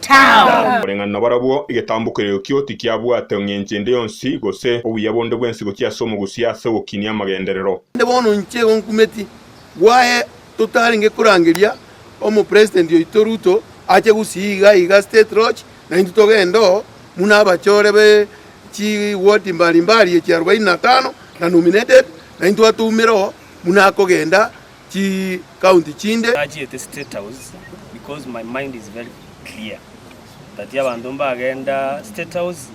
Tao! Koreng'ana nabarabwo, egetambo kereokio tikiabwate engencho ende yonsi, gose obuya bonde bwensi gochia ase omogusia ase ogokinia amagenderero. Naende bono inche igo nkumeti, bwaye totarenge korangeria Omopresident oito Ruto ache gusii iga iga State Lodge na intwe togende oo muna abachore be chi ward mbari mbari echi arubaini na tano na nominated na intwe atoumere oo muna akogenda chikaunti chinde. Nachiete state house because my mind is very clear that abanto mbagenda state house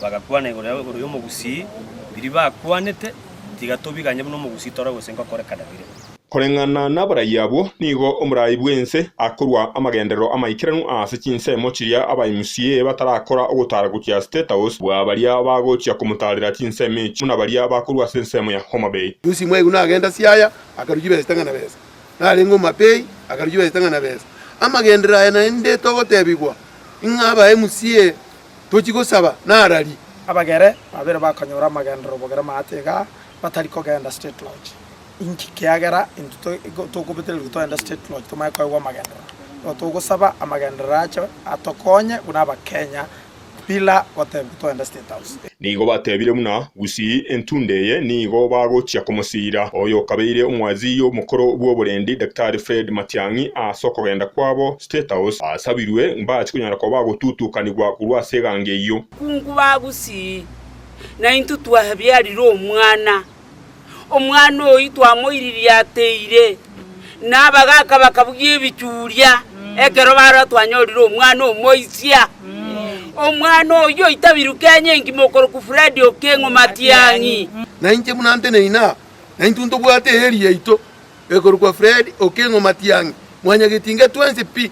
bagakwana igoro ya igoro ya omogusii biria bakwanete tiga tobiganye buna omogusii tore gose ngokorekana bire. Koreng'ana naborai abwo, nigo omorai bw'ense akorua amagenderero amaikeranu aase chinsemo chiria aba MCA batarakora ogotara gochia state house bwa baria bagochia komotarera chinsemo echi buna baria bakorua ase ensemo ya Homabay. Yusi mwaigwa nagenda Siaya, akaruchia besa itang'ana besa. Narenge omapei, akaruchia besa itang'ana besa. Amagenderero aya naende togotebigwa, ing'a abae musie tochie gosaba narari. Abagere babere bakanyora amagenderero bogere maate iga batari kogenda State Lodge. Inki? Kiagera intwe toigwa tokobetereria togende State Lodge tomanye koegwa amagenderero. Nigo togosaba amagenderero ache atokonye buna Abakenya Pillar gotebia toende State House. Nigo batebire buna gusii entundo eye nigo bagochia komosiira. Oyo okabeire omwazii omokoro bw'oborendi Daktari Fred Matiang'i aase okogenda kwabo State House asabirwe mbache konyara koba agotutukanigwa korwa ase egango eyio. Kungu bagusii, naintwe twabiarire omwana. Omwana oyio twamoiririe ateire, na abagaaka bakabugia ebichuria ekero barora twanyorire omwana omoisia. Omwana oyio oitabirwe Kenya engima okorokwa Fred Okengo Matiang'i. Nainche buna nteneina, na intwe ntobwate eeri yaito ekorokwa Fred Okengo Matiang'i, mwanyagetinga twensi pi,